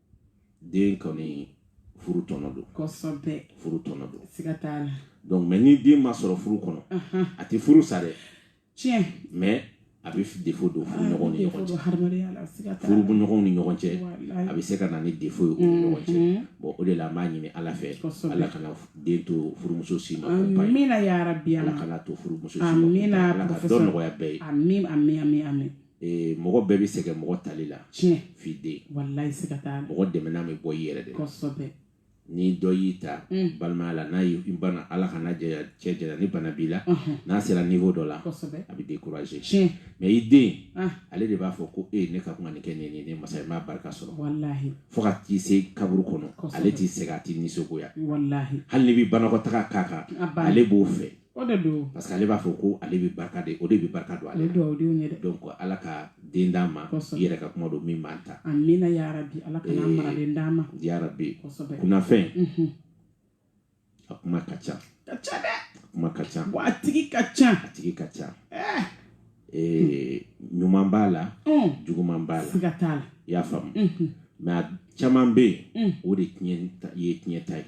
den kɔni furu tɔnɔ don kosɛbɛ furu tɔnɔ don siga t'a la donc mais ni den ma sɔrɔ furu kɔnɔ a tɛ furu sa dɛ tiɲɛ mais a bɛ défaut don furuɲɔgɔnw ni ɲɔgɔn cɛ furuɲɔgɔnw ni ɲɔgɔn cɛ a bɛ se ka na ni défaut ye u ni ɲɔgɔn cɛ mm-hmm. bon o de la an b'a ɲini ala fɛ ala kana den to furumuso si ma amina ya rabi ala kana to furumuso si ma amina ala ka dɔ nɔgɔya bɛɛ ye amin amin amin amin ee mɔgɔ bɛɛ bɛ sɛgɛn mɔgɔ tali la tiɲɛ f'i den walayi siga t'a la mɔgɔ dɛmɛna bɛ bɔ i yɛrɛ de la kosɛbɛ ni dɔ y'i ta Mm. balimaya la n'a y'i bana ala kana jɛya cɛ jɛya ni bana b'i la Ɔhɔn, n'a sera niveau dɔ la kosɛbɛ a bɛ découragé tiɲɛ mais i den ah ale de b'a fɔ ko e ne ka kuma nin kɛ nin nin ne masa i m'a barika sɔrɔ walahi fo ka t'i se kaburu kɔnɔ Kosɛbɛ. ale ti sɛgɛn a ti nisɔngoya walahi hali n'i bɛ banakɔtaga k'a kan a banna ale b'o fɛ o de don parce que ale b'a fɔ ko ale bɛ barika de o de bɛ barika don ale la dugawu denw ye dɛ donc ala ka den d'an ma i yɛrɛ ka kuma don min b'an ta amina yarabi ala k'an mara den d'an ma yarabi kunnafɛn a kuma ka ca ka ca dɛ a kuma ka ca wa a tigi ka ca a tigi ka ca eh. Eh, ɲuman b'a la mm. juguman b'a la siga t'a la i y'a faamu mm-hmm. mais a caman bɛ yen mm. o de ye tiɲɛ ta ye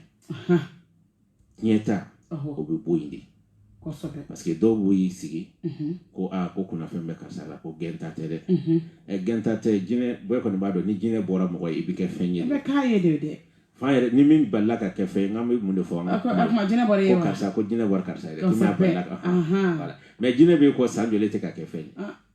tiɲɛta o bɛ bɔ yen de parce que dɔw b'o y'i sigi ko aa ko kunnafɛn bɛ karisa la ko gɛnta tɛ dɛ ɛ gɛnta tɛ jinɛ bɛɛ kɔni b'a dɔn ni jinɛ bɔra mɔgɔ ye i bɛ kɛ fɛn ye k'a ye de dɛ fa yɛrɛ ni min balila ka kɛ fɛn ye n'an bɛ mun de fɔ an ko karisa ko jinɛ bɔra karisa ye dɛ mais jinɛ b'i kɔ san joli i tɛ ka kɛ fɛn ye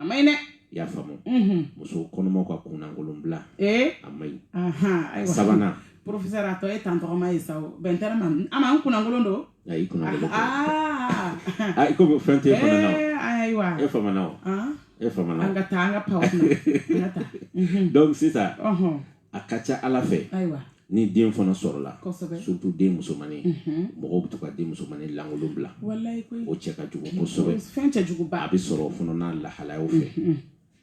a ma ɲi dɛ i y'a faamu muso kɔnɔmaw ka kunlankolon bila a ma ɲi a ye sabanan professeur a tɔ ye tan tɔgɔma ye sa o bɛn tɛ ne ma a ma n kunlankolon don i kunlankolon a i komi fɛn tɛ fana na ayiwa e famana o e famana an ka taa an ka paw an ka taa donc sisan a ka ca ala fɛ ni den fana sɔrɔla surtout den musomannin mhm. mɔgɔw bɛ to ka den musomannin lankolon bila o cɛ ka jugu kosɛbɛ a bɛ sɔrɔ fana n'a lahalayaw fɛ mhm, mhm.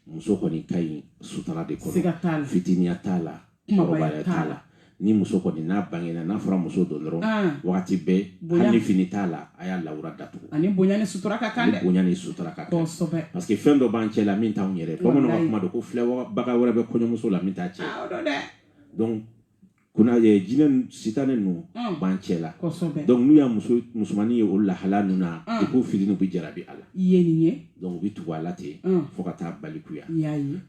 muso kɔni ka ɲi sutura de kɔnɔ fitininya t'a la kunbabaya t'a la ni muso kɔni n'a bangena n'a fɔra muso don dɔrɔn ah. wagati bɛɛ hali fini t'a la a y'a lawura datugu ani bonya ni sutura ka kan dɛ bonya ni sutura ka kan kosɛbɛ parce que fɛn dɔ b'an cɛ la min t'anw yɛrɛ bamananw ka kuma don ko filɛbaga wɛrɛ bɛ kɔɲɔmuso la min t'a cɛ donc kuna ye jinɛ sitane ninnu mm. b'an cɛ la donc n'u y'a muso musomannin ye o lahala ninnu na mm. i k'o fili n'u bɛ jarabi a la i ye nin ye donc u bɛ tugu a la ten mm. fo ka taa balikuya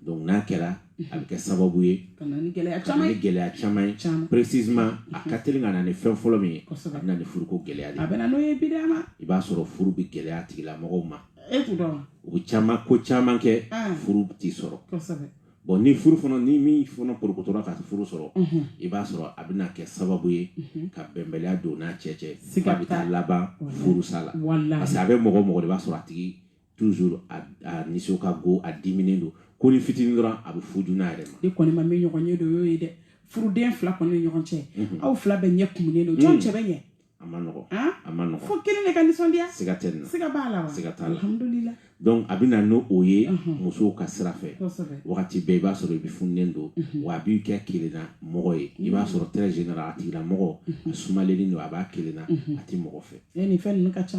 donc n'a kɛra a bɛ kɛ sababu ye gɛlɛya caman ye précisément a ka teli ka na ni fɛn fɔlɔ min ye a bɛ na ni furuko gɛlɛya de a bɛ n'o ye bi ma i b'a sɔrɔ furu bɛ gɛlɛya tigilamɔgɔw ma u bɛ ko caman kɛ furu tɛ sɔrɔ bon ni furu fana ni min fana porokotora ka furu sɔrɔ i b'a sɔrɔ a bɛna kɛ sababu ye ka bɛnbaliya don n'a cɛ cɛ a bɛ taa laban furusa la parce que a bɛ mɔgɔ mɔgɔ de b'a sɔrɔ a tigi toujours a, a nisɔn ka go a diminen don ko ni fitinin dɔrɔn a bɛ fuju n'a yɛrɛ ma ne kɔni ma min ɲɔgɔn ye dɔ y'o ye dɛ furuden fila kɔni ni ɲɔgɔn cɛ mhm. aw fila bɛɛ ɲɛ kumunen don jɔn mhm. cɛ bɛ ɲɛ a ma nɔgɔ a ma nɔgɔ fo kelen de ka nisɔndiya siga tɛ nin na siga b'a la wa siga t'a la alhamdulila donc a bɛ na n'o o ye mhm. musow ka sira fɛ wagati bɛɛ i b'a sɔrɔ i bɛ fununen don wa a b'i kɛ kelenna mɔgɔ ye i b'a sɔrɔ très général a tigilamɔgɔ a sumalenni don a b'a kelenna a tɛ mɔgɔ fɛ nin fɛn ninnu ka ca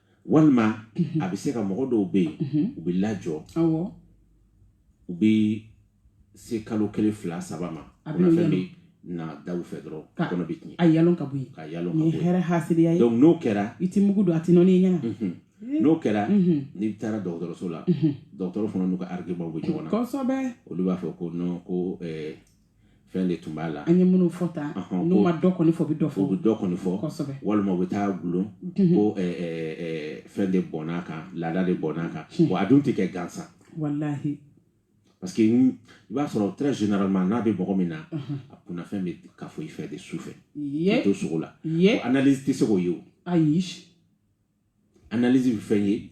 walima a bɛ se ka mɔgɔ dɔw bɛ yen u bɛ lajɔ u bɛ se kalo kelen fila saba ma kunnafɛn bɛ na da fɛ dɔrɔn kɔnɔ bɛ tiɲɛ a yalon ka bɔ yen ka yalon ka hɛrɛ haya donc n'o kɛra i tɛ mugu don a tɛ nɔɔni ɲɛna n'o kɛra n'i taara dɔgɔtɔrɔso la dɔgɔtɔrɔ fana n'u ka ararikebaw bɛ ɲɔgɔn na olu b'a fɔ ko ko fɛn de tun b'a la an ye minnu fɔ tan n'u ma dɔ kɔni fɔ u bɛ dɔ fɔ u bɛ dɔ kɔni fɔ kosɛbɛ walima u bɛ taa gulon mhm. ko fɛn de bɔnn'a kan laada de bɔnn'a kan mhm. wa a dun tɛ kɛ gansan walahi parce que i b'a sɔrɔ très généralement n'a bɛ mɔgɔ min na mhm. a kunnafɛn bɛ kafo i fɛ de su fɛ i to sogo la analyse tɛ se k'o ye o ayi analyse bɛ fɛn ye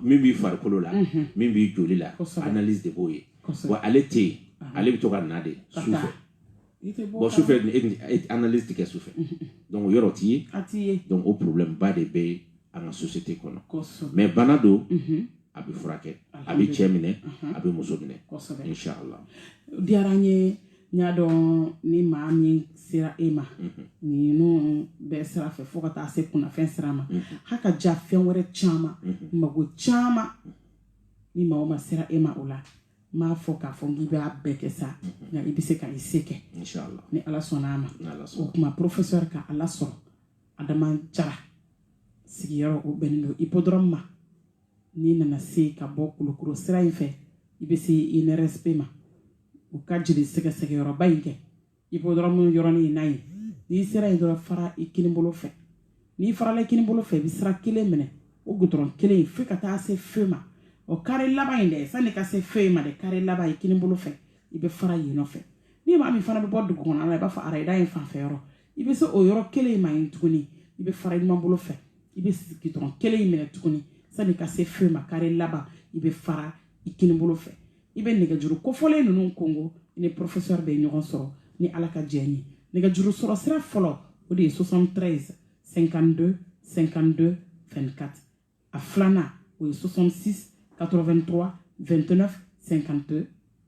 min b'i farikolo la min b'i joli la analyse de b'o ye wa ale tɛ yen ale bɛ to ka na de su fɛ bon su fɛ e analyse tɛ kɛ su fɛ donc o yɔrɔ t'i ye donc o problème ba de bɛ an ka société kɔnɔ mais bana don a bɛ furakɛ a bɛ cɛ minɛ a bɛ muso minɛ inshallah diyara n ye n y'a dɔn ni maa min sera e ma mhm. ninnu bɛɛ sira fɛ fo ka taa se kunnafɛn sira ma mhm. ha ka ja fɛn wɛrɛ caman mhm. mago caman ni maa o maa sera e ma o la n m'a fɔ k'a fɔ k'i b'a bɛɛ kɛ sa nka i bɛ se ka i se kɛ ni ala sɔnna a ma o tuma porofesɛri ka aw la sɔrɔ adama jara sigiyɔrɔ o bɛnnen don ipodɔrɔmu ma n'i nana se ka bɔ kulukoro sira in fɛ i bɛ se inrsp ma u ka jeli sɛgɛsɛgɛyɔrɔba in kɛ ipodɔrɔmu yɔrɔnin in na yen n'i sera yen dɔrɔn fara i kini bolo fɛ n'i farala i kini bolo fɛ i bɛ sira kelen minɛ o gudɔrɔn kelen fo ka taa se feu ma o kare laban in dɛ sanni ka se feu ma dɛ kare laban i kini bolo fɛ i bɛ fara yen nɔfɛ ni maa min fana bɛ bɔ dugu kɔnɔ la i b'a fɔ arayida in fanfɛ yɔrɔ i bɛ se o yɔrɔ kelen in ma yen tuguni i bɛ fara i numan bolo fɛ i bɛ gudɔrɔn kelen in minɛ tuguni sani ka se feu ma kare laban i bɛ fara i kini bolo fɛ i bɛ nɛgɛjuru kofɔlen ninnu kɔnkɔn i ni professeur bɛ ɲɔgɔn sɔrɔ ni ala ka jɛn ye nɛgɛjuru sɔrɔ sira fɔlɔ o de ye 73 52 52 24 a filanan o ye 66 83 29 52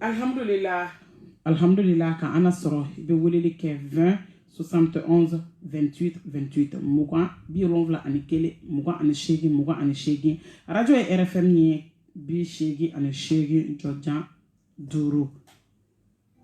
alhamdulila alhamdulila ka an na sɔrɔ i bɛ weleli kɛ 20 71 28 28 mugan bi wolonwula ani kelen mugan ani seegin mugan ani seegin arajo ye rfm ye bi seegin ani seegin jɔjan duuru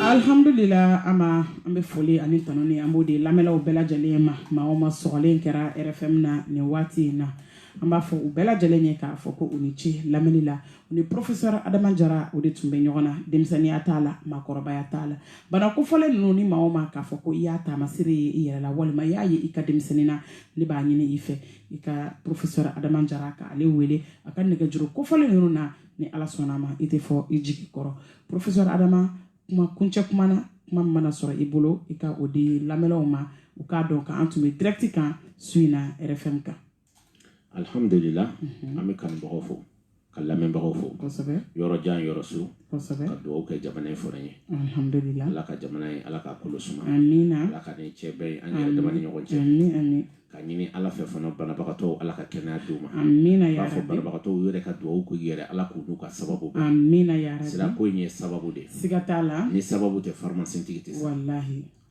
alihamdulila an ma an bɛ foli ani tanu ni an b'o di lamɛnlaw bɛɛ lajɛlen ma maa o maa sɔgɔlen kɛra rfm na nin waati in na an b'a fɔ u bɛɛ lajɛlen ye k'a fɔ ko u ni ce lamɛnni la u ni porofesɛr adama jara o de tun bɛ ɲɔgɔn na denmisɛnninya t'a la maakɔrɔbaya t'a la bana kofɔlen ninnu ni maa o maa k'a fɔ ko i y'a taamasere ye i yɛrɛ la walima i y'a ye i ka denmisɛnnin na ne b'a ɲini i fɛ i ka porofesɛr adama jara k'ale wele a ka nɛgɛjuru kofɔlen ninnu na ni ala sɔnna a ma i tɛ fɔ i jigi kɔrɔ professeur adama kuma kuncɛ kuma na kuma min mana sɔrɔ i bolo i ka o di lamɛnlaw ma u k'a dɔn ka an tun bɛ direct kan su in na rfm kan alhamdulila mhm. an bɛ kanubagaw fo ka lamɛnbagaw fo yɔrɔ jan yɔrɔ surun ka dugawu kɛ jamana in fɔlɔ ye ala ka jamana in ala ka kolo suma ala ka nin cɛ bɛɛ ye an yɛrɛ dama ni ɲɔgɔn cɛ ka ɲini ala fɛ fana banabagatɔw ala ka kɛnɛya d'u ma b'a fɔ banabagatɔw yɛrɛ ka dugawu k'u yɛrɛ ala k'u n'u ka sababu bɛn fura ko in ye sababu de siga t'a la ni sababu tɛ faramasentigi tɛ sa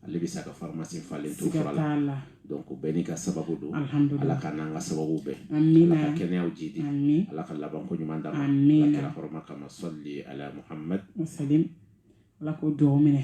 ale bɛ sa ka faramasen falen to fura la donc bɛɛ n'i ka sababu don ala k'an n'an ka sababu bɛn ala ka kɛnɛyaw jidi ala ka laban ko ɲuman d'an ma ala kira hɔrɔma kama sali ala muhammad ala k'o dugawu minɛ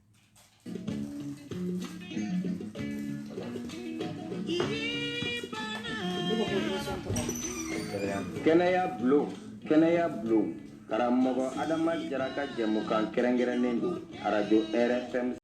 kɛnɛya bulon kɛnɛya bulon karamɔgɔ adama jara ka jɛmukan kɛrɛnkɛrɛnnen don arajo rfm